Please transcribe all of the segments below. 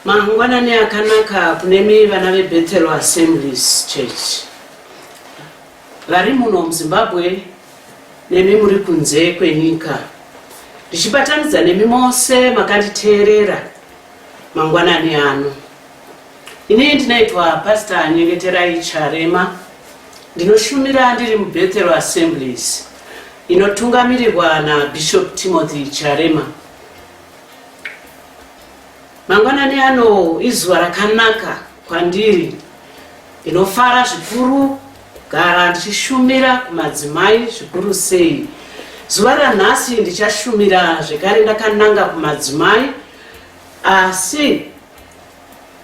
Mangwanani akanaka kunemi vana veBethel Assemblies Church vari muno muZimbabwe nemi muri kunze kwenyika. Ndichibatanidza nemi mose makanditeerera mangwanani ano. Ini ndinoitwa Pastor Nyengeterai Charema. Ndinoshumira ndiri muBethel Assemblies inotungamirirwa naBishop Timothy Charema. Mangwanani ano izuva rakanaka kwandiri. Ndinofara zvikuru kugara ndichishumira kumadzimai zvikuru sei. Zuva ranhasi ndichashumira zvekare ndakananga kumadzimai asi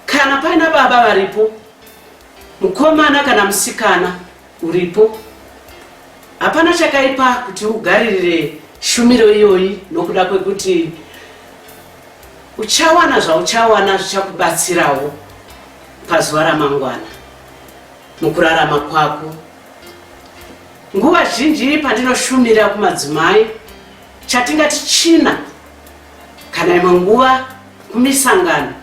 kana paina baba varipo Mukomana kana musikana uripo, hapana chakaipa kuti ugaririre shumiro iyoyi nokuda kwekuti uchawana zvauchawana zvichakubatsirawo pazuva ramangwana mukurarama kwako nguva zhinji pandinoshumira kumadzimai chatingati china kana imwe nguva kumisangano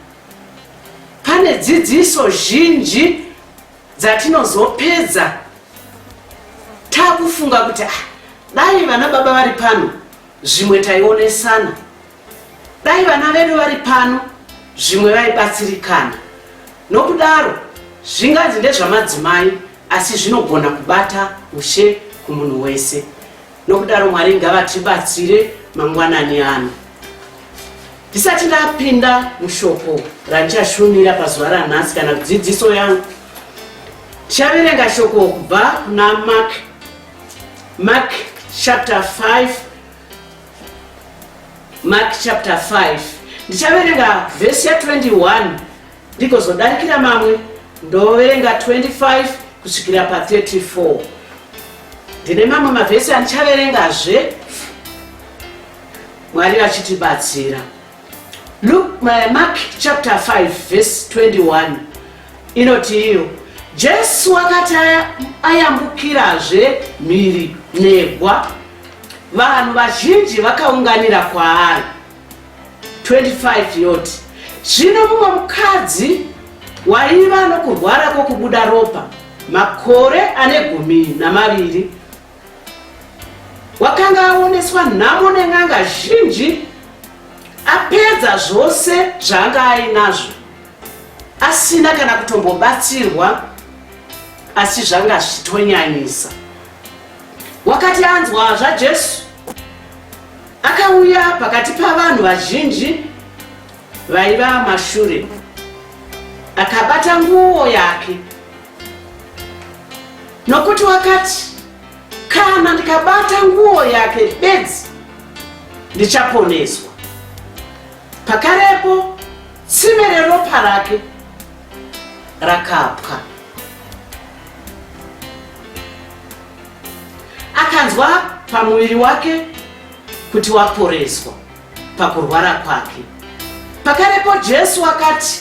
Pane dzidziso zhinji dzatinozopedza takufunga kuti ah, dai vana baba vari pano zvimwe taionesana, dai vana vedu vari pano zvimwe vaibatsirikana. Nokudaro zvinganzi ndezvamadzimai asi zvinogona kubata ushe kumunhu wese. nokudaro mwari ngavatibatsire mangwanani ano ndisati ndapinda mushoko randichashumira pazuva ranhasi kana kudzidziso yangu tichaverenga shoko kubva kuna mark mark chapter 5 mark chapter 5 ndichaverenga vhesi ya 21 ndigozodarikira mamwe ndoverenga 25 kusvikira pa 34 ndine mamwe mavhesi andichaverengazve mwari vachitibatsira luk mark chapter 5 vhesi 21 inoti iyo jesu wakati ayambukirazve mhiri negwa vanhu vazhinji vakaunganira kwaari 25 yoti zvino mumwe mukadzi waiva nokurwara kwokubuda ropa makore ane gumi namaviri wakanga aoneswa nhamo nen'anga zhinji apedza zvose zvaanga ainazvo asina kana kutombobatsirwa asi zvanga zvichitonyanyisa wakati anzwa zvajesu Akauya pakati pavanhu vazhinji vaiva mashure, akabata nguo yake, nokuti wakati, kana ndikabata nguo yake bedzi ndichaponeswa. Pakarepo tsime reropa rake rakapwa. Akanzwa pamuviri wake kuti waporeswa pakurwara kwake. Pakarepo Jesu akati,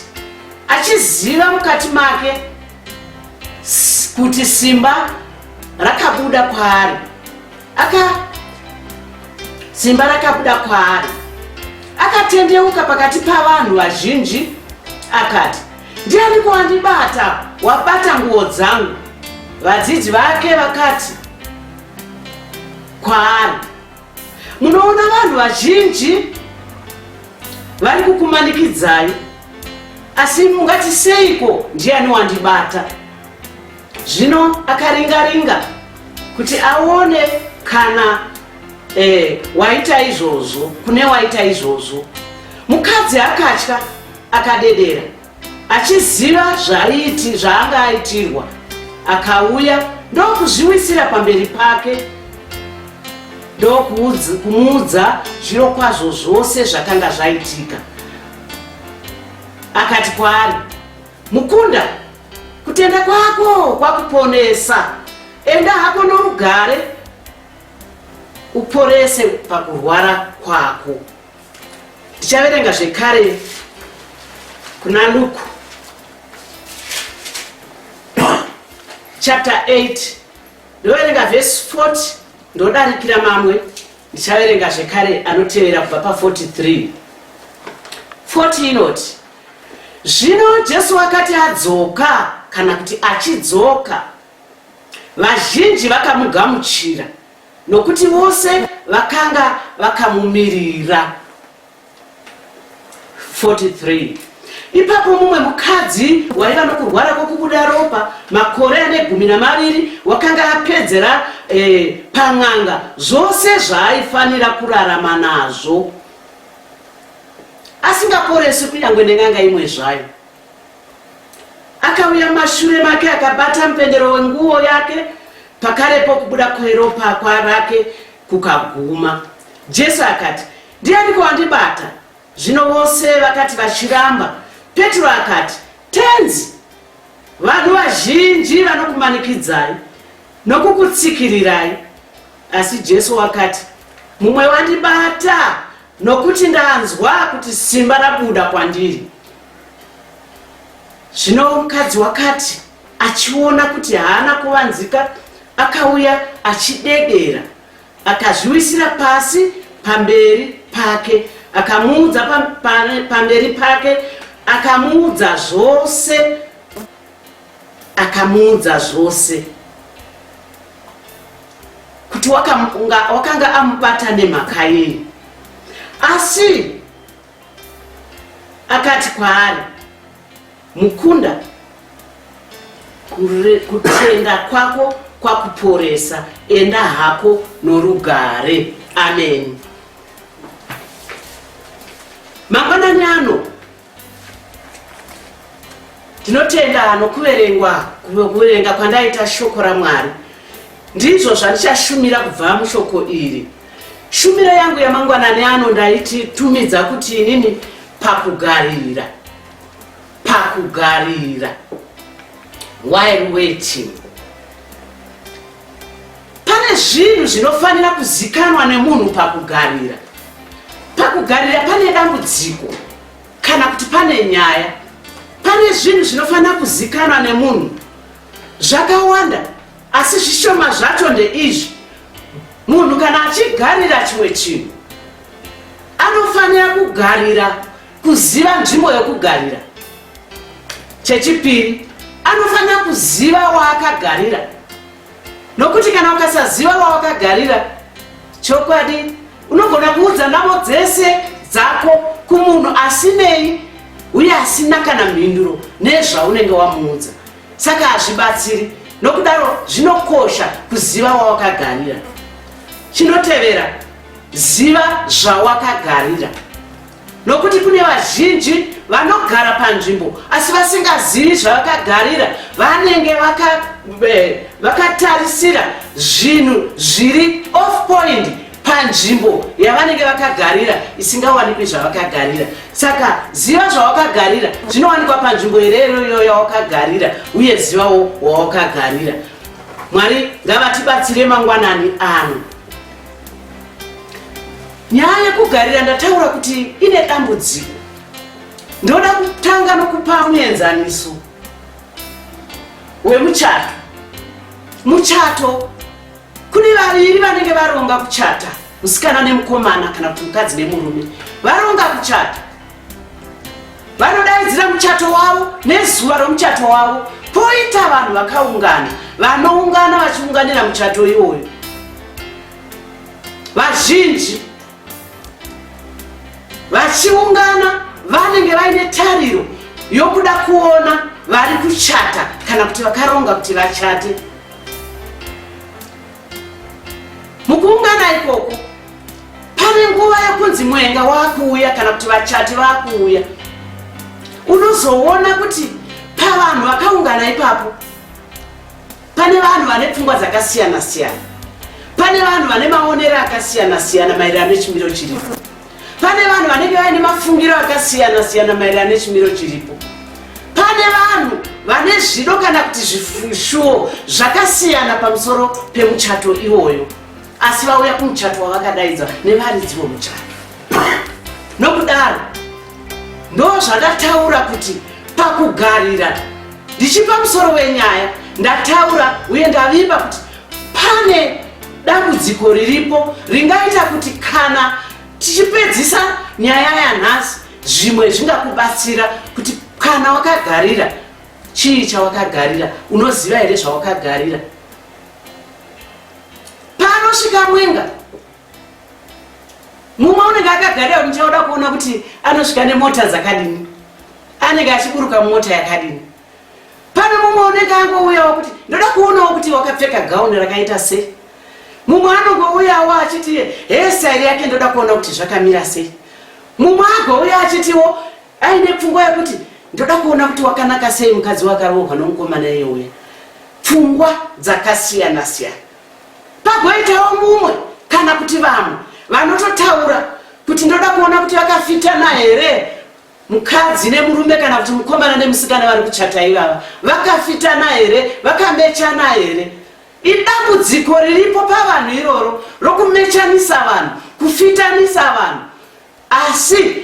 achiziva mukati make kuti simba rakabuda kwaari aka simba rakabuda kwaari akatendeuka pakati pavanhu vazhinji akati Ndiani kwandibata wabata nguwo dzangu? Vadzidzi vake vakati kwaari, munoona vanhu vazhinji vari kukumanikidzai, asi mungati seiko ndiani wandibata? Zvino akaringaringa kuti aone kana eh, waita izvozvo kune waita izvozvo. Mukadzi akatya Akadedera achiziva zvaiiti zvaanga aitirwa akauya ndokuzviwisira pamberi pake ndokumuudza zviro kwazvo zvose zvakanga zvaitika akati kwaari mukunda kutenda kwako kwakuponesa enda hako norugare uporese pakurwara kwako tichaverenga zvekare kuna luku chapter 8 ndoverenga vhesi 40 ndodarikira mamwe ndichaverenga zvekare anotevera kubva pa 43 40 inoti zvino jesu wakati adzoka kana kuti achidzoka vazhinji vakamugamuchira Nokuti vose vakanga vakamumirira. 43 ipapo mumwe mukadzi waiva nokurwara kwokubuda ropa makore ane gumi namaviri wakanga apedzera eh, pan'anga zvose zvaaifanira kurarama nazvo asingaporesi kunyange nen'anga imwe zvayo Akauya mashure make akabata mupendero wenguwo yake, pakarepo kubuda kweropa rake kukaguma. Jesu akati, Ndianiko wandibata? Zvino vose vakati vachiramba. Petro akati, Tenzi, vanhu vazhinji vanokumanikidzai nokukutsikirirai. Asi Jesu wakati, Mumwe wandibata, nokuti ndanzwa kuti simba rabuda kwandiri. Zvino mukadzi wakati achiona kuti haana kuvanzika, akauya achidedera, akazviwisira pasi pamberi pake, akamuudza pamberi pake, akamuudza zvose, akamuudza zvose kuti wakanga amubata nemhaka yei, asi Akati kwaari, Mukunda, kutenda kwako kwakuporesa, enda hako norugare. Ameni. Mangwanani ano ndinotenda nokuverengwa kuverenga kwandaita shoko raMwari ndizvo zvandichashumira kubva mushoko iri Shumiro yangu yamangwanani ano ndaititumidza kuti inini pakugarira. Pakugarira. While waiting. Pane zvinhu zvinofanira kuzikanwa nemunhu pakugarira. Pakugarira pane dambudziko kana kuti pane nyaya. Pane zvinhu zvinofanira kuzikanwa nemunhu zvakawanda asi zvishoma zvacho ndeizvi munhu kana achigarira chimwe chinhu anofanira kugarira kuziva nzvimbo yokugarira chechipiri anofanira kuziva waakagarira nokuti kana ukasaziva wawakagarira chokwadi unogona kuudza navo dzese dzako kumunhu asinei uye asina kana mhinduro nezvaunenge wamuudza saka hazvibatsiri nokudaro zvinokosha kuziva wawakagarira chinotevera ziva zvawakagarira nokuti kune vazhinji vanogara panzvimbo asi vasingazivi zvavakagarira vanenge vakatarisira vaka zvinhu zviri off point panzvimbo yavanenge vakagarira isingawanikwi zvavakagarira saka ziva zvawakagarira zvinowanikwa panzvimbo ireroyo yawakagarira uye zivawo wawakagarira mwari ngavatibatsire mangwanani ano nyaya yekugarira ndataura kuti ine dambudziko ndoda kutanga nokupa muenzaniso wemuchato muchato Kune vaviri vanenge varonga kuchata, musikana nemukomana kana kuti mukadzi nemurume varonga kuchata vanodaidzira muchato wavo nezuva romuchato wavo poita vanhu vakaungana vanoungana vachiunganira muchato iwoyo vazhinji vachiungana vanenge vaine tariro yokuda kuona vari kuchata kana kuti vakaronga kuti vachate mukuungana ikoko pane nguva yekunzi mwenga wakuuya kana kuti vachati vakuuya unozoona kuti pavanhu vakaungana ipapo pane vanhu vane pfungwa dzakasiyana siyana pane vanhu vane maonero akasiyana siyana maererano nechimiro chiripo pane vanhu vanenge vaine mafungiro akasiyana siyana maererano nechimiro chiripo pane vanhu vane zvido kana kuti zvishuwo zvakasiyana pamusoro pemuchato iwoyo asi vauya kumuchato wavakadaidzwa nevaridzi vomuchato nokudaro ndo zvandataura kuti pakugarira ndichipa musoro wenyaya ndataura uye ndavimba kuti Pane dambudziko riripo ringaita kuti kana tichipedzisa nyaya yanhasi zvimwe zvingakubatsira kuti kana wakagarira chii chawakagarira unoziva here zvawakagarira panosvika mwenga mumwe unenge akagarira kuti ndichauda kuona kuti anosvika nemota dzakadini anenge achiburuka mota yakadini pane mumwe unenge angouyawo kuti ndoda kuonawo kuti wakapfeka gauni rakaita sei mumwe anongouyawo achiti hesari yake ndoda kuona kuti zvakamira sei mumwe agouya achitiwo aine pfungwa yekuti ndoda kuona kuti wakanaka sei mukadzi wakarohwa nomukomana iye uya pfungwa dzakasiyana siyana pagoitawo mumwe kana kuti vamwe vanototaura kuti ndoda kuona kuti vakafitana here mukadzi nemurume kana kuti mukomana nemusikana vari kuchata ivava vakafitana here vakamechana here idambudziko riripo pavanhu iroro rokumechanisa vanhu kufitanisa vanhu asi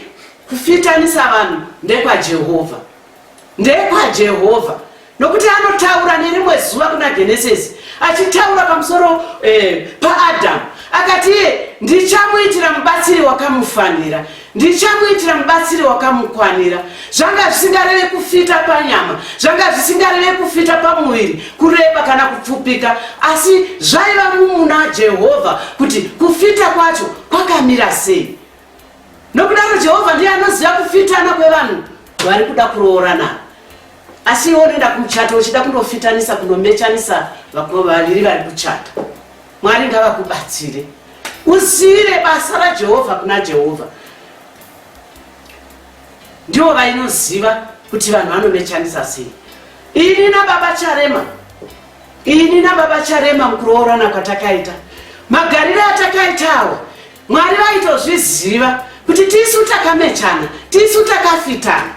kufitanisa vanhu ndekwajehovha ndekwajehovha Nokuti anotaura nerimwe zuva kuna Genesisi achitaura pamusoro eh, paAdhamu akati iye ndichamuitira mubatsiri wakamufanira ndichamuitira mubatsiri wakamukwanira zvanga zvisingareve kufita panyama zvanga zvisingareve kufita pamuviri kureba kana kupfupika asi zvaiva mumuna jehovha kuti kufita kwacho kwakamira sei nokudaro jehovha ndiye anoziva kufitana kwevanhu vari kuda kuroora navo asi iwe unoenda kumuchato uchida kunofitanisa kunomechanisa vakoma vaviri vari kuchata mwari ngavakubatsire uzive basa rajehovha kuna jehovha ndivo vainoziva kuti vanhu vanomechanisa sei ini nababa charema ini nababa charema mukuroorana kwatakaita magariro atakaitawo mwari vaitozviziva kuti tisu takamechana tisu takafitana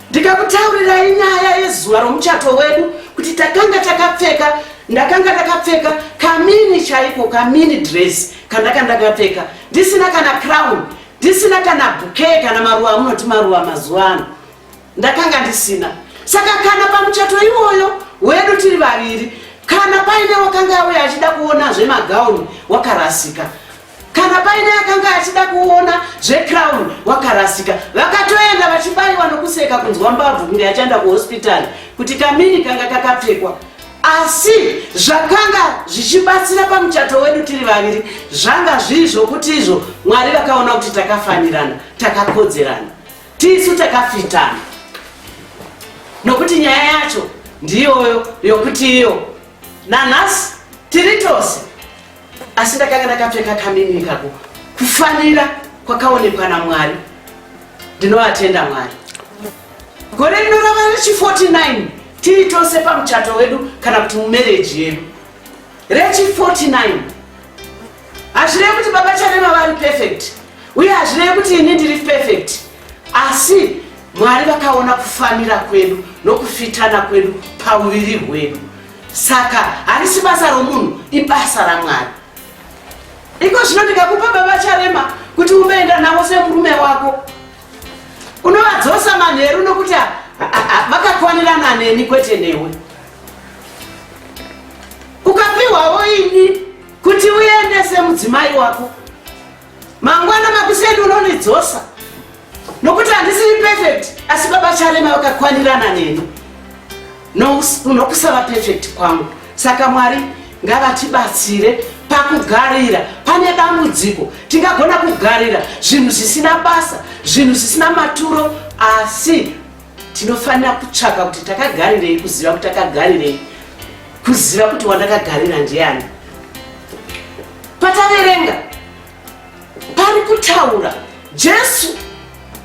ndikakutaurirai nyaya yezuva romuchato wedu kuti takanga takapfeka ndakanga ndakapfeka kamini chaiko kamini dress kandaka ndakapfeka ndisina kana crown ndisina kana bukee kana maruva amunoti maruva mazuva ano ndakanga ndisina saka kana pamuchato iwoyo wedu tiri vaviri kana paine wakanga auya achida kuona zvemagauni wakarasika kana paine akanga achida kuona zvecrown wakarasika vakatoenda vachibaiwa nokuseka kunzwa mbabvu kunge achaenda kuhospitari kuti kamini kanga kakapfekwa asi zvakanga zvichibatsira pamuchato wedu tiri vaviri zvanga zviri zvokuti izvo mwari vakaona kuti takafanirana takakodzerana tisu takafitana nokuti nyaya yacho ndiyoyo yokuti iyo nanhasi tiri tose asi ndakanga ndakapfeka kamini ikako kufanira kwakaonekwa namwari ndinovatenda mwari gore rino rava rechi 49 tiri tose pamuchato wedu kana kuti mumereji yedu rechi 49 hazvirevi kuti baba charema vari perfect uye hazvirevi kuti ini ndiri perfect asi mwari vakaona kufanira kwedu nokufitana kwedu pauviri hwedu saka harisi basa romunhu ibasa ramwari iko zvino ndikakupa baba charema kuti umeenda navo semurume wako unovadzosa manheru nokuti vakakwanirana neni kwete newe ukapiwavo ini kuti uendese mudzimai wako Mangwana makuseni unonidzosa nokuti handisiri perfect asi baba Charema vakakwanirana neni nokusava perfect kwangu. Saka Mwari ngavatibatsire pakugarira pane dambudziko tingagona kugarira zvinhu zvisina basa zvinhu zvisina maturo asi tinofanira kutsvaka kuti takagarirei kuziva kuti takagarirei kuziva kuti wandakagarira ndiani pataverenga pari kutaura jesu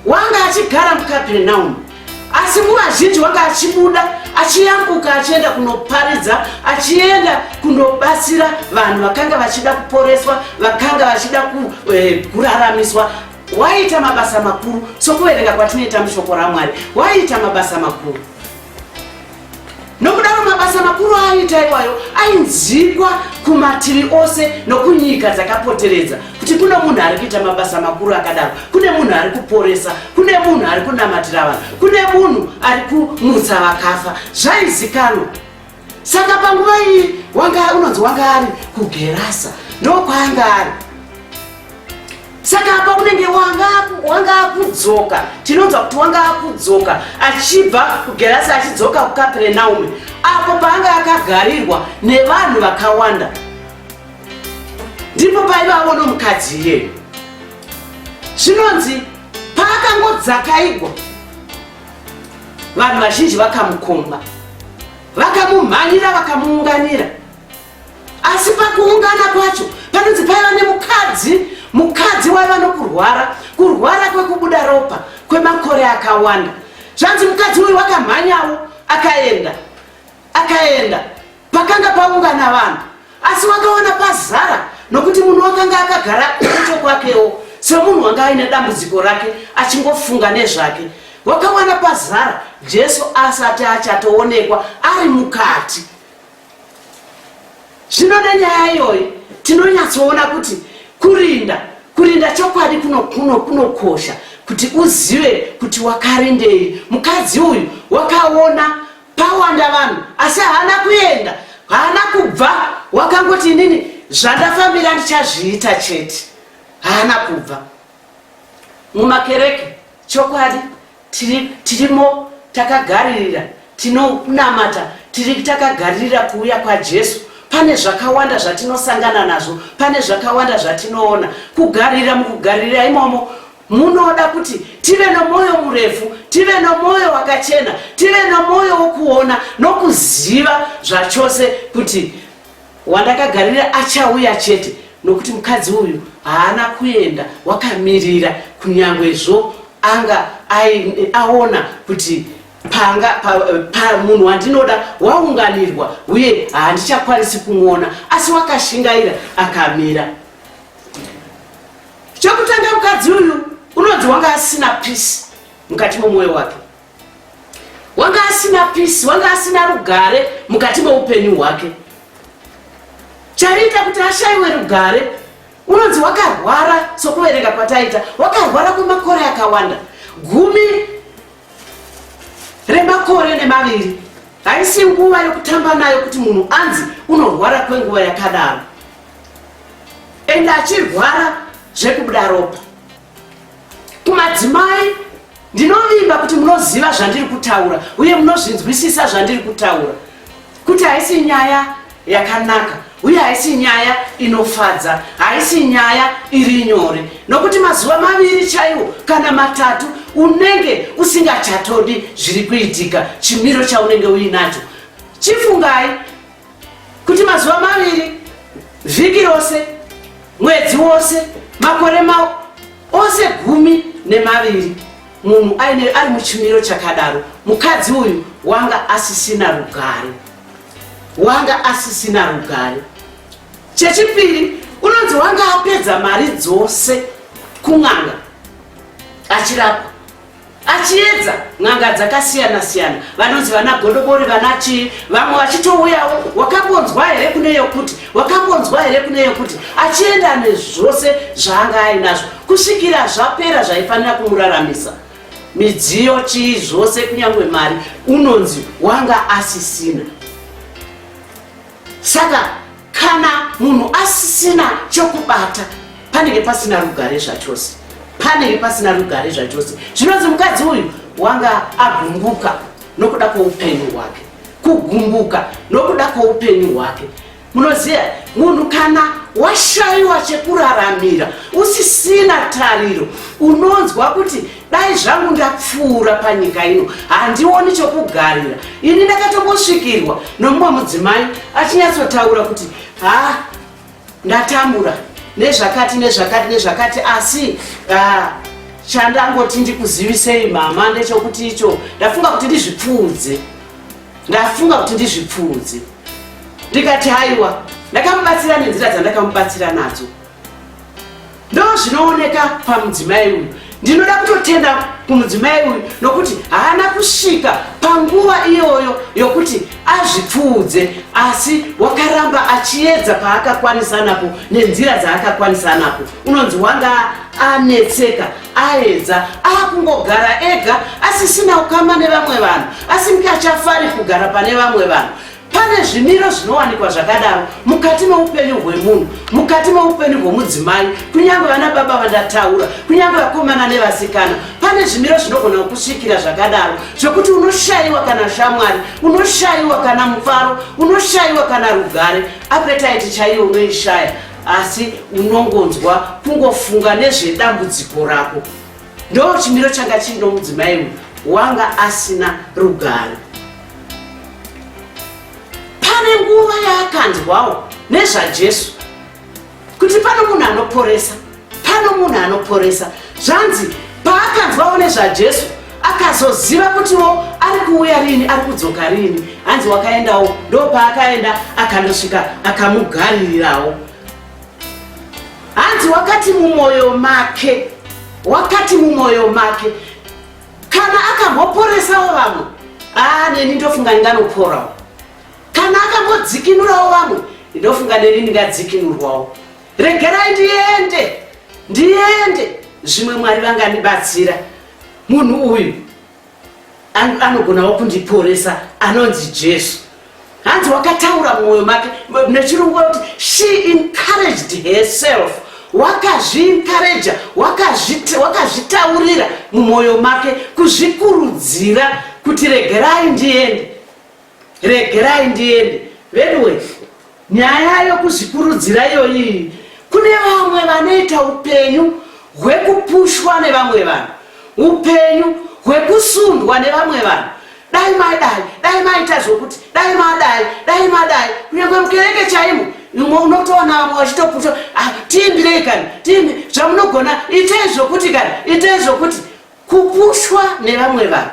wanga achigara mukapernaumu asi nguva zhinji wanga achibuda achiyambuka achienda kunoparidza achienda kunobatsira vanhu vakanga vachida kuporeswa vakanga vachida eh, kuraramiswa waiita mabasa makuru sokuverenga kwatinoita mushoko ramwari waiita mabasa makuru nokudaro mabasa makuru aaiita iwayo ainzikwa kumativi ose nokunyika dzakapoteredza kuti kune munhu ari kuita mabasa makuru akadaro kune munhu ari kuporesa kune munhu ari kunamatira vanhu kune munhu ari kumutsa vakafa zvaizikanwa saka panguva iyi wanga unonzi wanga ari kugerasa ndokwaanga ari saka apa unenge wanga akudzoka tinonzwa kuti wanga akudzoka achibva kugerasa achidzoka kukaperenaume apo paanga akagarirwa nevanhu vakawanda ndipo paiva avo nomukadzi iyeyo zvinonzi paakangodzakaigwa vanhu vazhinji vakamukomba vakamumhanyira vakamuunganira asi pakuungana kwacho panonzi paiva nemukadzi mukadzi waiva nokurwara kurwara kwekubuda ropa kwemakore akawanda zvanzi mukadzi uyu wakamhanyawo akaenda akaenda Pakanga paungana vanhu, asi wakaona pazara nokuti munhu wakanga akagara kucho kwakewo semunhu wanga aine dambudziko rake achingofunga nezvake. Wakawana pazara Jesu asati achatoonekwa ari mukati. Zvino nenyaya iyoyi tinonyatsoona kuti kurinda kurinda chokwadi kunokosha kuno, kuno kuti uzive kuti wakarindei. Mukadzi uyu wakaona pawanda vanhu asi haana kuenda haana kubva wakangoti inini zvandafambira ndichazviita chete haana kubva mumakereke chokwadi tirimo takagaririra tinonamata tiri takagaririra kuuya kwajesu pane zvakawanda zvatinosangana nazvo pane zvakawanda zvatinoona kugarira mukugarira imomo Munoda kuti tive nomwoyo murefu, tive nomwoyo wakachena, tive nomwoyo wokuona nokuziva zvachose kuti wandakagarira achauya chete, nokuti mukadzi uyu haana kuenda wakamirira, kunyanguezvo anga aona kuti panga pamunhu wandinoda waunganirwa uye handichakwanisi kumwona asi wakashingaira akamira Chokutanga mukadzi uyu unonzi wanga asina peace mukati momoyo wake. Wanga asina peace, wanga asina rugare mukati moupenyu hwake. Chaiita kuti ashaiwe rugare unonzi wakarwara sokuverenga kwataita, wakarwara kwemakore akawanda. Gumi remakore nemaviri haisi nguva yokutamba nayo kuti munhu anzi unorwara kwenguva yakadaro. ende achirwara zvekubuda ropa kumadzimai ndinovimba kuti munoziva zvandiri kutaura uye munozvinzwisisa zvandiri kutaura kuti haisi nyaya yakanaka uye haisi nyaya inofadza haisi nyaya iri nyore nokuti mazuva maviri chaiwo kana matatu unenge usingachatodi zviri kuitika chimiro chaunenge uinacho chifungai kuti mazuva maviri vhiki rose mwedzi wose makore ma ose gumi nemaviri munhu aine ari muchimiro chakadaro mukadzi uyu wanga asisina rugare wanga asisina rugare chechipiri unonzi wanga apedza mari dzose kun'anga achirapwa achiedza n'anga dzakasiyana siyana vanonzi vana godobori vana chii vamwe vachitouyawo wakambonzwa here kune yokuti wakambonzwa here kune yokuti achienda nezvose zvaanga ainazvo kusvikira zvapera zvaifanira kumuraramisa midziyo chii zvose kunyange mari unonzi wanga asisina saka kana munhu asisina chokubata panenge pasina rugare zvachose panenge pasina rugare zvachose zvinonzi mukadzi uyu wanga agumbuka nokuda kwoupenyu hwake kugumbuka nokuda kwoupenyu hwake munoziva munhu kana washayiwa chekuraramira usisina tariro unonzwa kuti dai zvangu ndapfuura panyika ino handioni chokugarira ini ndakatombosvikirwa nomumwe mudzimai achinyatsotaura kuti ha ndatambura nezvakati nezvakati nezvakati asi ha chandangoti ndikuzivisei mama ndechokuti icho ndafunga kuti ndizvipfuudze ndafunga kuti ndizvipfuudze ndikati haiwa ndakamubatsira nenzira dzandakamubatsira nadzo ndozvinooneka pamudzimai uyu ndinoda kutotenda kumudzimai uyu nokuti haana kusvika panguva iyoyo yokuti azvipfuudze asi wakaramba achiedza paakakwanisa napo nenzira dzaakakwanisa napo unonzi wanga anetseka aedza akungogara ega asisina ukama nevamwe vanhu asinge achafari kugara pane vamwe vanhu Pane zvimiro zvinowanikwa zvakadaro mukati meupenyu hwemunhu, mukati meupenyu hwemudzimai, kunyange vana baba vandataura, kunyange vakomana nevasikana. Pane zvimiro zvinogona kukusvikira zvakadaro zvekuti unoshayiwa kana shamwari, unoshayiwa kana mufaro, unoshayiwa kana rugare. Apetaiti chaiyo unoishaya, asi unongonzwa kungofunga nezvedambudziko rako. Ndo chimiro changa chino mudzimai uyu wanga asina rugare. pane nguva yaakanzwawo nezvajesu kuti pano munhu anoporesa pano munhu anoporesa zvanzi paakanzwawo nezvajesu akazoziva kutiwo ari kuuya rini ari kudzoka rini hanzi wakaendawo ndo paakaenda akanosvika akamugaririrawo hanzi wakati mumwoyo make wakati mumwoyo make kana akamboporesawo vamwe aa neni ndofunga ndinganoporawo kana akambodzikinurawo vamwe ndofunga neni ndingadzikinurwawo regerai ndiende ndiende zvimwe mwari vangandibatsira munhu uyu anogonawo kundiporesa anonzi jesu hanzi wakataura mumwoyo make nechirungu kuti she encouraged herself wakazviencouraja wakazvitaurira mumwoyo make kuzvikurudzira kuti regerai ndiende regerai ndiende veduwe Nyaya yokuzvikurudzira iyoyi kune vamwe vanoita upenyu hwekupushwa nevamwe vanhu, upenyu hwekusundwa nevamwe vanhu dai madai dai maita zvokuti dai madai dai madai kunyangwe mukereke chaimo unotoona vamwe vachitoputa ah, tiimbirei kani tiimbi zvamunogona itei zvokuti kani itei zvokuti kupushwa nevamwe vanhu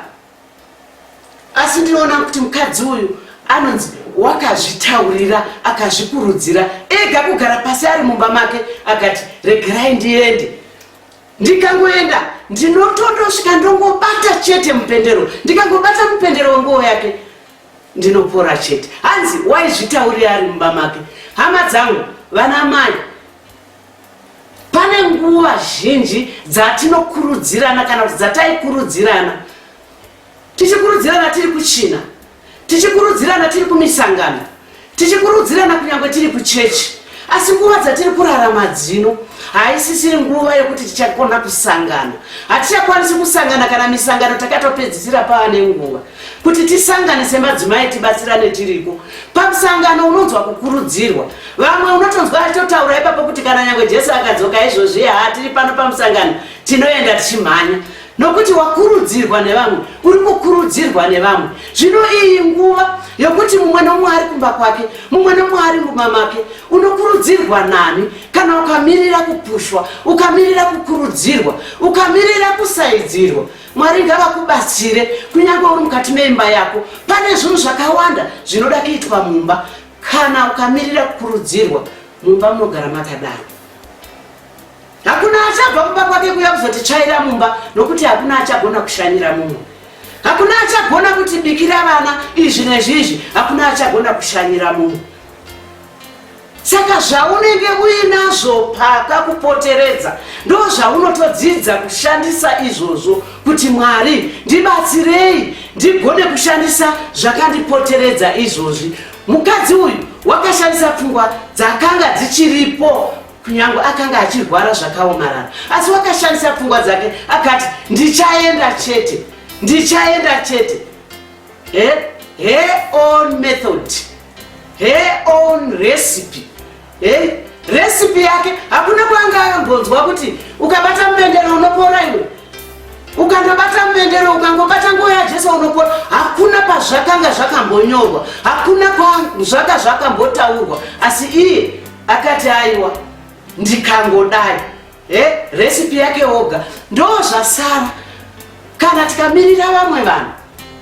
asi ndinoona kuti mukadzi uyu anonzi wakazvitaurira akazvikurudzira ega kugara pasi ari mumba make akati regerai ndiende ndikangoenda ndinotondosvika ndongobata chete mupendero ndikangobata mupendero wenguwo yake ndinopora chete hanzi waizvitaurira ari mumba make hama dzangu vana mai Pane nguva zhinji dzatinokurudzirana kana kuti dzataikurudzirana tichikurudzirana tiri kuchina tichikurudzirana tiri kumisangano tichikurudzirana kunyange tiri kuchechi asi nguva dzatiri kurarama dzino haisisiri nguva yokuti tichakona kusangana hatichakwanisi kusangana kana misangano takatopedzisira pava nenguva kuti tisangane semadzimai tibatsirane tiriko pamusangano unonzwa kukurudzirwa vamwe unotonzwa achitotaura ipapo kuti kana nyange jesu akadzoka izvozvi haa tiri pano pamusangano tinoenda tichimhanya nokuti wakurudzirwa nevamwe uri kukurudzirwa nevamwe zvino iyi nguva yokuti mumwe nomwe ari kumba kwake mumwe nomwe ari mumba make unokurudzirwa nani kana ukamirira kupushwa ukamirira kukurudzirwa ukamirira kusaidzirwa Mwari ngavakubatsire kunyange uri mukati meimba yako. Pane zvinhu zvakawanda zvinoda kuitwa mumba. Kana ukamirira kukurudzirwa mumba munogara makadaro. Hakuna achabva kumba kwake kuya kuzotichaira mumba nokuti hakuna achagona kushanyira mumwe. Hakuna achagona kuti bikira vana izvi nezvizvi. Hakuna achagona kushanyira mumwe. Saka zvaunenge uinazvo pakakupoteredza ndo zvaunotodzidza kushandisa izvozvo kuti Mwari ndibatsirei ndigone kushandisa zvakandipoteredza izvozvi. Mukadzi uyu wakashandisa pfungwa dzakanga dzichiripo kunyange akanga achirwara zvakaomarara asi wakashandisa pfungwa dzake akati ndichaenda chete ndichaenda chete he he on method her own recipe hey? recipe yake hakuna kwanga ayombonzwa kuti ukabata mupendero unopora iwe ukandobata mupendero ukangobata nguva yajesu unopora hakuna pazvakanga zvakambonyorwa hakuna zvaka zvakambotaurwa asi iye akati aiwa ndikangodai eh, recipe yake oga ndozvasara kana tikamirira vamwe vanhu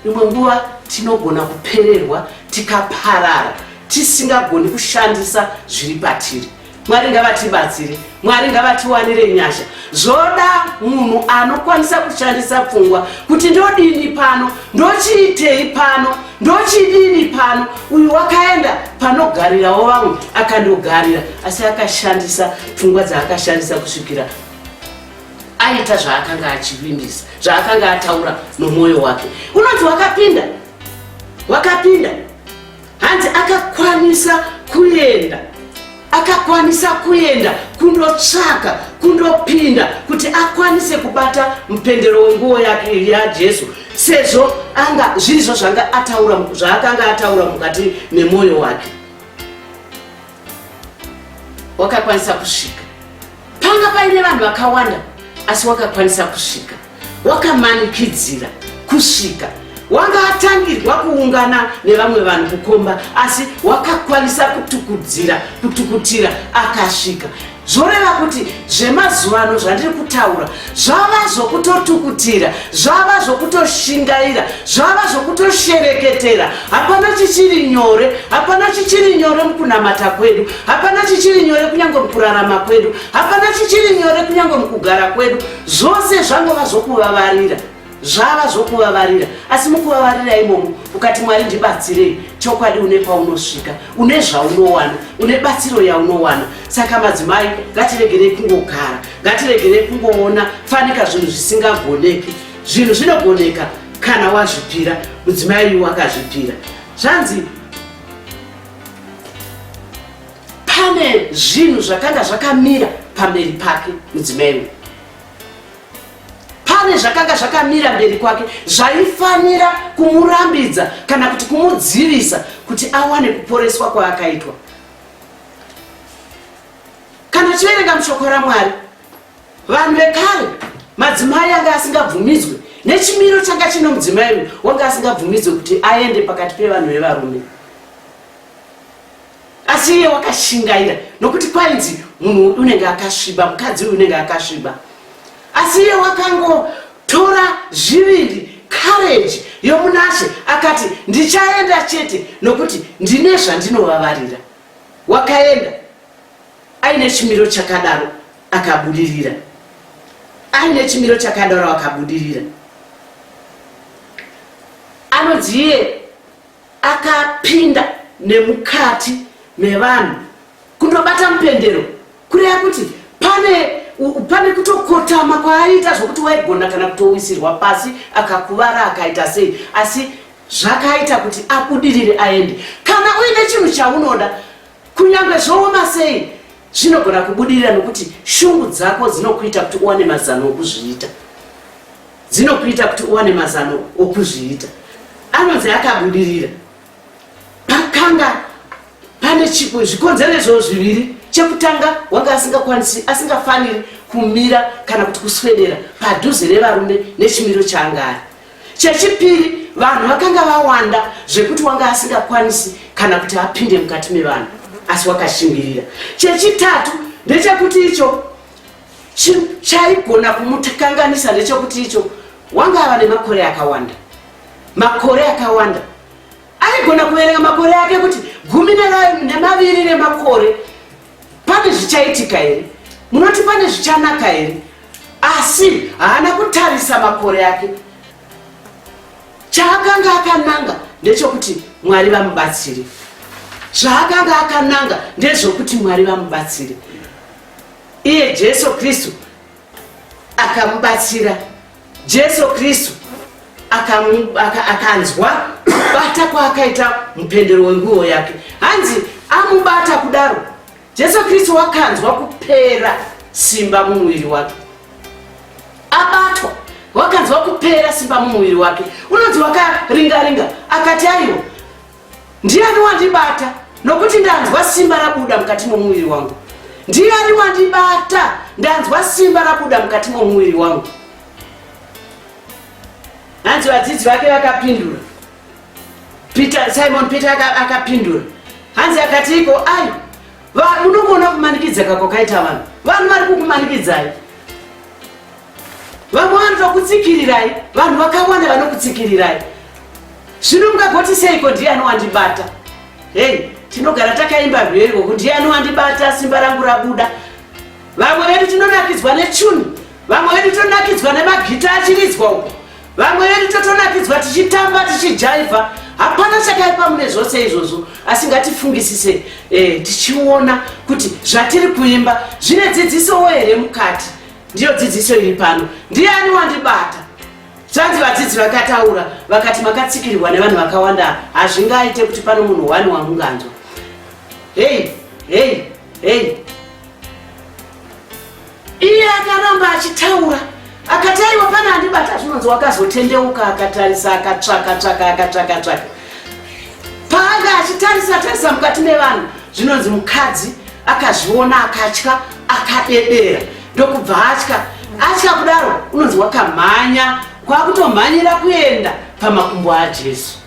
imwe nguva tinogona kupererwa tikaparara tisingagoni kushandisa zviri patiri mwari ngavatibatsire mwari ngavatiwanire nyasha zvoda munhu anokwanisa kushandisa pfungwa kuti ndodini pano ndochiitei pano ndochidini pano uyu wakaenda panogarirawo vamwe akandogarira asi akashandisa pfungwa dzaakashandisa kusvikira aita zvaakanga achivimbisa zvaakanga ataura nomwoyo wake unonzi wakapinda wakapinda hanzi akakwanisa kuenda akakwanisa kuenda kundotsvaka kundopinda kuti akwanise kubata mupendero wenguwo yake yajesu sezvo anga zvirizvo zvanga ataura zvaakanga ataura mukati memwoyo wake wakakwanisa kusvika panga paine vanhu vakawanda asi wakakwanisa kusvika wakamanikidzira kusvika wanga atangirwa kuungana nevamwe vanhu kukomba asi wakakwanisa kutukudzira kutukutira akasvika zvoreva kuti zvemazuvano zvandiri kutaura zvava zvokutotukutira zvava zvokutoshingaira zvava zvokutoshereketera hapana chichiri nyore hapana chichiri nyore mukunamata kwedu hapana chichiri nyore kunyange mukurarama kwedu hapana chichiri nyore kunyange mukugara kwedu zvose zvangova zvokuvavarira zvava zvokuvavarira asi mukuvavarira imomo ukati mwari ndibatsirei chokwadi une paunosvika une zvaunowana une batsiro yaunowana saka madzimai ngatiregerei kungogara ngatiregerei kungoona fanika zvinhu zvisingagoneki zvinhu zvinogoneka kana wazvipira mudzimai wakazvipira zvanzi pane zvinhu zvakanga zvakamira pamberi pake mudzimai uyu pane zvakanga zvakamira mberi kwake zvaifanira kumurambidza kana kuti kumudzivisa kuti awane kuporeswa kwaakaitwa kana tiverenga mushoko ramwari vanhu vekare madzimai anga asingabvumidzwe nechimiro changa chine mudzimai uyu wanga asingabvumidzwe kuti aende pakati pevanhu vevarume asi iye wakashingaira nokuti kwainzi munhu uyu unenge akasviba mukadzi uyu unenge akasviba asi iye wakangotora zviviri courage yomunashe akati ndichaenda chete nokuti ndine zvandinovavarira wakaenda aine chimiro chakadaro akabudirira aine chimiro chakadaro akabudirira anonzi iye Akapinda nemukati mevanhu kundobata mupendero kureva kuti pane pane kutokotama kwaaiita zvokuti waigona kana kutowisirwa pasi akakuvara akaita sei asi zvakaita kuti abudirire aende kana uine chinhu chaunoda Kunyange zvooma sei, zvinogona kubudirira nokuti shungu dzako dzinokuita kuti uwane mazano okuzviita. Dzinokuita kuti uwane mazano okuzviita. Anonzi akabudirira. Pakanga pane chipo zvikonzero izvozvo zviviri. Chekutanga wanga asingakwanisi asingafaniri kumira kana kuti kuswedera padhuze nevarume nechimiro chaanga ari. Chechipiri, vanhu vakanga vawanda zvekuti wanga asingakwanisi kana kuti apinde mukati mevanhu, asi wakashimbirira. Chechitatu ndechekuti icho chaigona kumukanganisa ndechekuti icho wanga ava nemakore akawanda, makore akawanda aigona kuverenga makore ake kuti gumi nemaviri nemakore Pane zvichaitika here? Munoti pane zvichanaka here? Asi haana kutarisa makore ake. Chaakanga akananga ndechokuti Mwari vamubatsire. Zvaakanga akananga ndezvokuti Mwari vamubatsire. Iye Jesu Kristu akamubatsira jesu kristu akanzwa kubata kwaakaita mupendero wenguo yake hanzi amubata kudaro jesu kristu wakanzwa kupera simba mumuviri wake abatwa wakanzwa kupera simba mumuviri wake unonzi wakaringaringa akati aiwa Ndiani wandibata nokuti ndanzwa simba rabuda mukati momuviri wangu? Ndiani wandibata ndanzwa simba rabuda mukati momuviri wangu? Hanzi vadzidzi vake vakapindura. Peter, Simon Peter akapindura. Hanzi akati iko ai munokuona kumanikidza kako kaita vanhu vanhu vari kukumanikidzai vamwe vanoda kutsikirirai vanhu vakawanda vanokutsikirirai zvino mungagoti seiko ndiye anowandibata hei tinogara takaimba rwere rwoku ndiye anowandibata simba rangu rabuda vamwe vedu tinonakidzwa nechuni vamwe vedu tonakidzwa nemagita achiridzwa uko vamwe vedu totonakidzwa tichitamba tichijaivha hapana chakaipa mune zvose izvozvo asi ngatifungisise eh, tichiona kuti zvatiri kuimba zvine dzidzisowo here mukati Ndiyo dzidziso iri pano. Ndiani wandibata? Zvanzi vadzidzi vakataura vakati makatsikirirwa nevanhu vakawanda hazvingaite kuti pano munhu wani wamunganzwa. Hei, hei, hei. Iye akaramba achitaura akati aiwa pana andibata zvinonzi wakazotendeuka akatarisa akatsvaka tsvaka akatsvaka tsvaka paanga achitarisa tarisa mukati mevanhu zvinonzi mukadzi akazviona akatya akadedera ndokubva atya atya kudaro unonzi wakamhanya kwakutomhanyira kuenda pamakumbo ajesu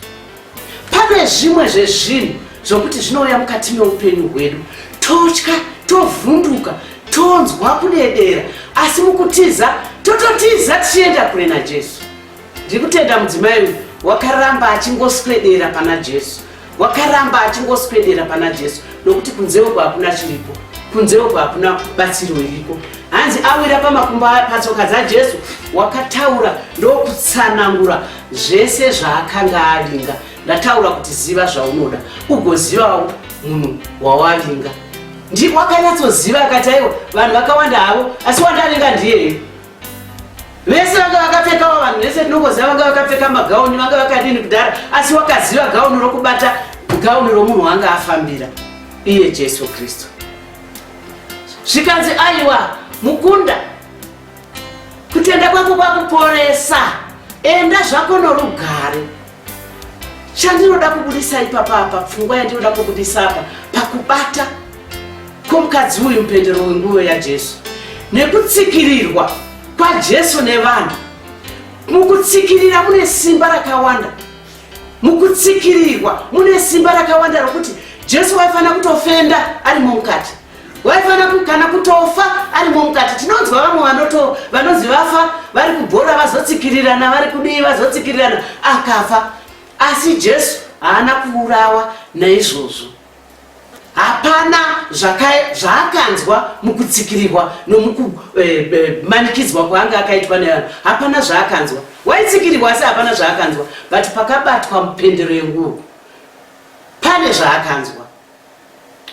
pane zvimwe zvezvinhu zvokuti zvinouya mukati meupenyu hwedu totya tovhunduka tonzwa kudedera asi mukutiza tototiza tichienda kure najesu ndiri kutenda mudzimai uyu wakaramba achingoswedera pana jesu wakaramba achingoswedera pana jesu nokuti kunze uko hakuna chiripo kunze uko hakuna batsiro iriko hanzi awira pamakumbo patsoka dzajesu wakataura ndokutsanangura zvese zvaakanga avinga ndataura kuti ziva zvaunoda ugozivawo munhu wawavinga ndiwakanyatsoziva akati aiwa vanhu vakawanda havo asi wandavinga ndiyeye vese vanga vakapfekawo vanhu vese tinokoziva vanga vakapfeka magauni vanga vakadini kudhara asi wakaziva gauni rokubata gauni romunhu wanga afambira iye jesu kristu zvikanzi aiwa mukunda kutenda kwako kwakuporesa enda zvako norugare chandinoda kubudisa ipapa apa pfungwa yandinoda kubudisa apa pakubata kwomukadzi uyu mupendero wenguyo yajesu nekutsikirirwa kwajesu nevanhu mukutsikirira mune simba rakawanda mukutsikirirwa mune simba rakawanda rokuti jesu waifanira kutofenda ari mumukati waifana kana kutofa arimo mukati tinonzwa vamwe vanoto vanozi vafa vari kubhora vazotsikirirana vari kudii vazotsikirirana akafa asi jesu haana kuurawa naizvozvo hapana zvaakanzwa mukutsikirirwa nomukumanikidzwa eh, eh, kwaanga akaitwa nevanhu hapana zvaakanzwa waitsikirirwa asi hapana zvaakanzwa but pakabatwa mupendero yenguvo pane zvaakanzwa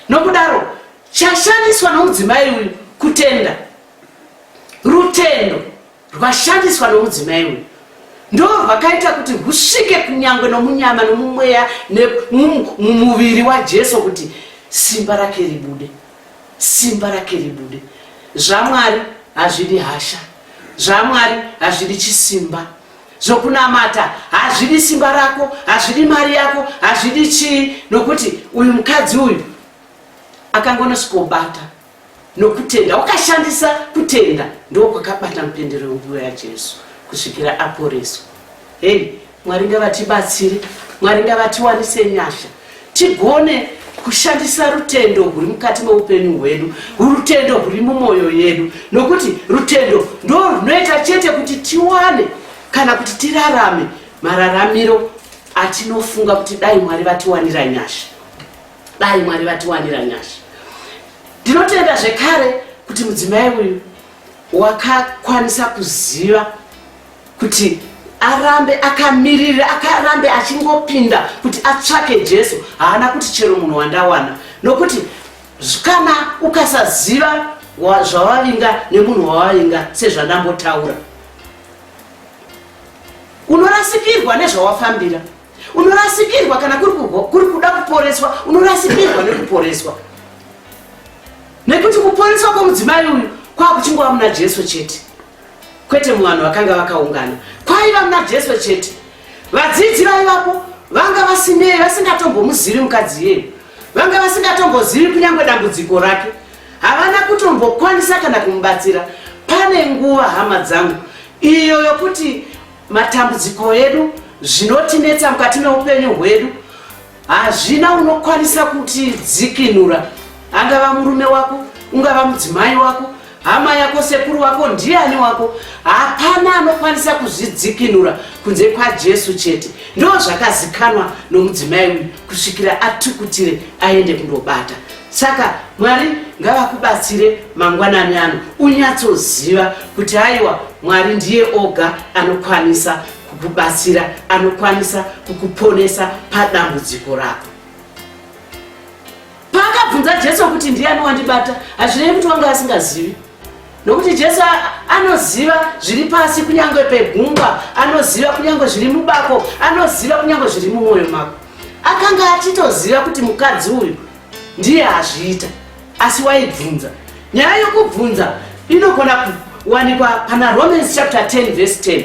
Nokudaro, chashandiswa nomudzimai uyu kutenda, rutendo rwashandiswa nomudzimai uyu ndorwakaita kuti husvike kunyange nomunyama nomumweya nemumuviri waJesu kuti simba rake ribude, simba rake ribude. ZvaMwari hazvidi hasha, zvaMwari hazvidi chisimba, zvokunamata hazvidi simba rako hazvidi mari yako hazvidi chii nokuti uyu mukadzi uyu akangonosikobata nokutenda wakashandisa kutenda ndo kwakabata mupendero wenguva yajesu kusvikira aporeswa hei mwari ngavatibatsire mwari ngavatiwanise nyasha Tigone kushandisa rutendo huri mukati meupenyu hwedu, rutendo huri mumwoyo yedu, nokuti rutendo ndo runoita chete kuti tiwane kana kuti tirarame mararamiro atinofunga kuti dai Mwari vatiwanira nyasha, dai Mwari vatiwanira nyasha. Ndinotenda zvekare kuti mudzimai uyu wakakwanisa kuziva kuti arambe akamirira akarambe achingopinda kuti atsvake jesu haana kuti chero munhu wandawana nokuti kana ukasaziva zvavavinga nemunhu wavavinga sezvandambotaura unorasikirwa nezvawafambira unorasikirwa kana kuri kuda kuporeswa unorasikirwa nekuporeswa nekuti kuporeswa kwemudzimai uyu kwakuchingova muna jesu chete kwete muvanhu vakanga vakaungana kwaiva muna jesu chete vadzidzi vaivapo vanga vasinei vasingatombomuzivi mukadzi iyeyo vanga vasingatombozivi kunyange dambudziko rake havana kutombokwanisa kana kumubatsira pane nguva hama dzangu iyo yokuti matambudziko edu zvinotinetsa mukati meupenyu hwedu hazvina unokwanisa kuti dzikinura angava murume wako ungava mudzimai wako hama yako sekuru wako ndiani wako hapana anokwanisa kuzvidzikinura kunze kwajesu chete ndo zvakazikanwa nomudzimai uyu kusvikira atukutire aende kundobata saka mwari ngavakubatsire mangwanani ano unyatsoziva kuti aiwa mwari ndiye oga anokwanisa kukubatsira anokwanisa kukuponesa padambudziko rako paakabvunza jesu kuti ndiyani wandibata hazvirevi kuti wanga asingazivi nokuti jesu anoziva zviri pasi kunyange pegungwa anoziva kunyange zviri mubako anoziva kunyange zviri mumwoyo mako akanga achitoziva kuti mukadzi uyu ndiye azviita asi waibvunza nyaya yokubvunza inogona kuwanikwa pana romans chapter 10 vese 10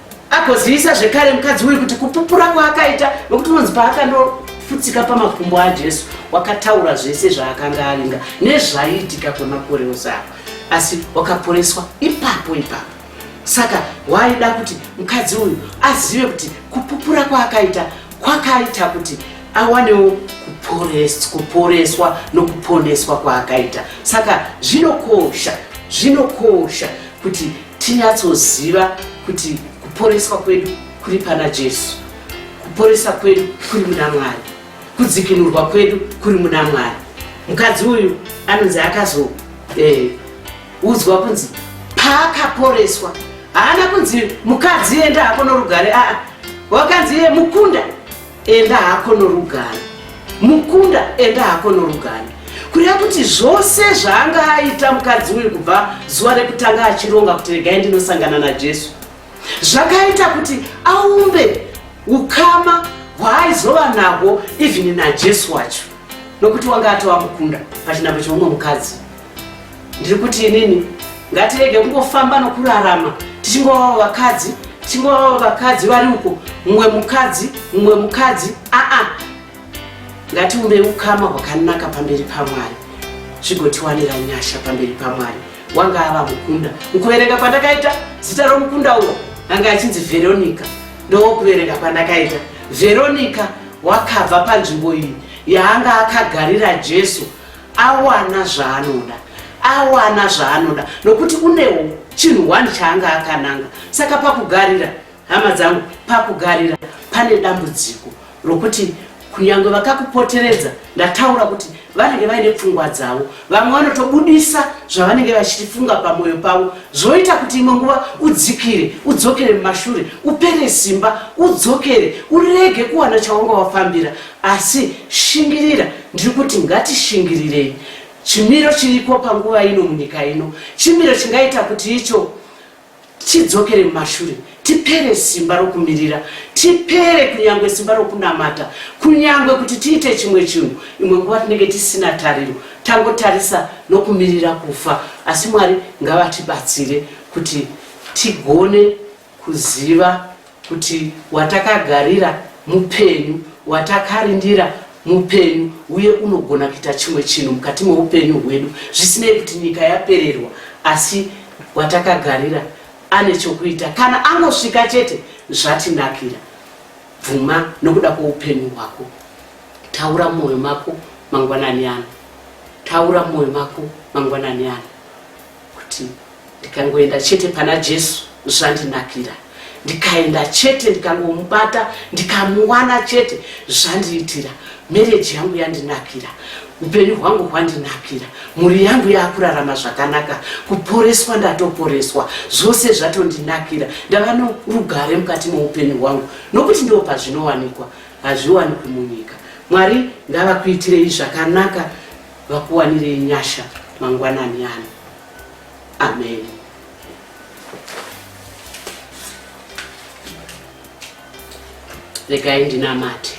agozivisa zvekare mukadzi uyu kuti kupupura kwaakaita nokuti unonzi paakandofutsika pamakumbo ajesu wakataura zvese zvaakanga aringa nezvaiitika kwemakore osava asi wakaporeswa ipapo ipapo saka waida kuti mukadzi uyu azive kuti kupupura kwaakaita kwakaita kuti awanewo kuporeswa nokuponeswa kwaakaita saka zvinokosha zvinokosha kuti tinyatsoziva kuti kuporeswa kwedu kuri pana jesu kuporesa kwedu kuri muna mwari kudzikinurwa kwedu kuri muna mwari mukadzi uyu anonzi akazoudzwa eh, kunzi paakaporeswa haana kunzi mukadzi enda hako norugare aa wakanzi iye mukunda enda hako norugare mukunda enda hako norugare kureva kuti zvose zvaanga aita mukadzi uyu kubva zuva rekutanga achironga kuti regai ndinosangana najesu zvakaita kuti aumbe ukama hwaaizova nahwo even najesu wacho nokuti wanga atova mukunda pachinambo cheumwe mukadzi ndiri kuti inini ngatirege kungofamba nokurarama tichingovawo vakadzi tichingovawo vakadzi vari uko mumwe mukadzi mumwe mukadzi aa ngatiumbe ukama hwakanaka pamberi pamwari zvigotiwanira nyasha pamberi pamwari wanga ava mukunda mukuverenga kwandakaita zita romukunda uwo anga achinzi veronica ndowokuverenga kwandakaita veronica wakabva panzvimbo iyi yaanga akagarira jesu awana zvaanoda awana zvaanoda nokuti unewo chinhu one chaanga akananga saka pakugarira hama dzangu pakugarira pane dambudziko rokuti kunyange vakakupoteredza ndataura kuti vanenge vaine pfungwa dzavo vamwe vanotobudisa zvavanenge vachitifunga pamwoyo pavo zvoita kuti imwe nguva udzikire udzokere mumashure upere simba udzokere urege kuwana chawanga wafambira Asi shingirira, ndiri kuti ngatishingirirei chimiro chiriko panguva ino munyika ino, chimiro chingaita kuti icho tidzokere mumashure, tipere simba rokumirira, tipere kunyange simba rokunamata, kunyange kuti tiite chimwe chinhu. Imwe nguva tinenge tisina tariro, tangotarisa nokumirira kufa. Asi Mwari ngavatibatsire kuti tigone kuziva kuti watakagarira mupenyu, watakarindira mupenyu uye unogona kuita chimwe chinhu mukati meupenyu hwedu zvisinei kuti nyika yapererwa asi watakagarira ane chokuita kana anosvika chete zvatinakira bvuma nokuda kweupenyu hwako taura mwoyo mako mangwanani ano taura mwoyo mako mangwanani ano kuti ndikangoenda chete pana Jesu zvandinakira ndikaenda chete ndikangomubata ndikamuwana chete zvandiitira mereji yangu yandinakira upenyu hwangu hwandinakira mhuri yangu yakurarama zvakanaka kuporeswa ndatoporeswa zvose zvatondinakira ndava norugare mukati moupenyu hwangu nokuti ndiwo pazvinowanikwa hazviwanikwi munyika mwari ngavakuitirei zvakanaka vakuwanire nyasha mangwanani ano amen regai ndinamate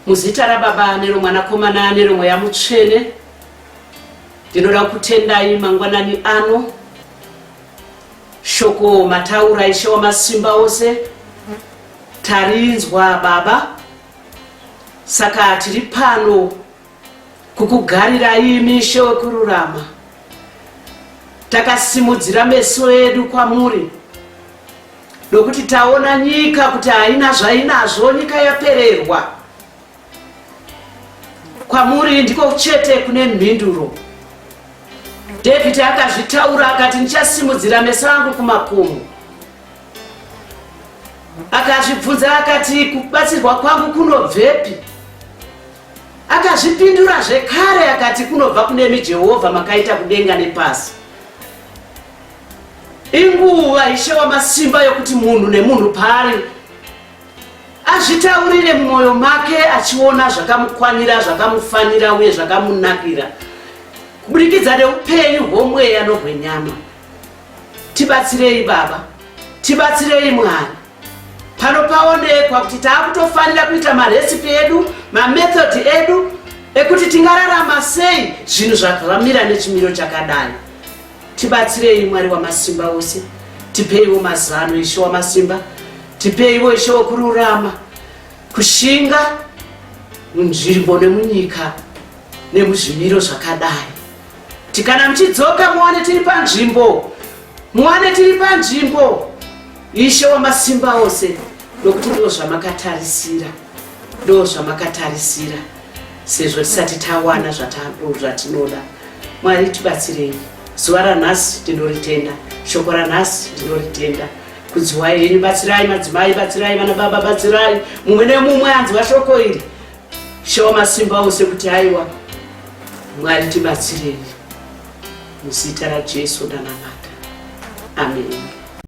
muzita rababa neromwanakomana neromweya mutsvene ndinoda kutendai mangwanani ano shoko mataura ishe wamasimba ose tarinzwa baba Saka tiri pano kukugarirai mishe yokururama. Takasimudzira meso edu kwamuri nokuti taona nyika kuti haina zvainazvo, nyika yapererwa. Kwamuri ndiko chete kune mhinduro. David akazvitaura akati, Ndichasimudzira meso angu kumakomo. Akazvibvunza akati kubatsirwa kwangu kunobvepi? Akazvipindura zvekare akati kunobva kunemi Jehovha makaita kudenga nepasi. Inguva Ishe wamasimba yokuti munhu nemunhu pari azvitaurire mumwoyo make achiona zvakamukwanira, zvakamufanira uye zvakamunakira kuburikidza neupenyu hwomweya nohwenyama. Tibatsirei baba, tibatsirei mwana. Pano paonekwa kuti taakutofanira kuita marecipe edu, mamethod edu ekuti tingararama sei zvinhu zvamira nechimiro chakadai. Tibatsirei Mwari wamasimba ose, tipeiwo mazano Ishe wamasimba, tipeiwo Ishe wekururama, kushinga munzvimbo nemunyika nemuzvimiro zvakadai. kuti kana muchidzoka muwane tiri panzvimbo muwane tiri panzvimbo ishe wamasimba ose nokuti ndo zvamakatarisira ndo zvamakatarisira sezvo tisati tawana zvatinoda mwari tibatsirei zuva ranhasi tinoritenda shoko ranhasi tinoritenda kudziwai henyu batsirai madzimai batsirai vana baba batsirai mumwe nemumwe anzwa shoko iri Show masimba ose kuti aiwa Mwari tibatsirei muzita raJesu ndanamata. Amen.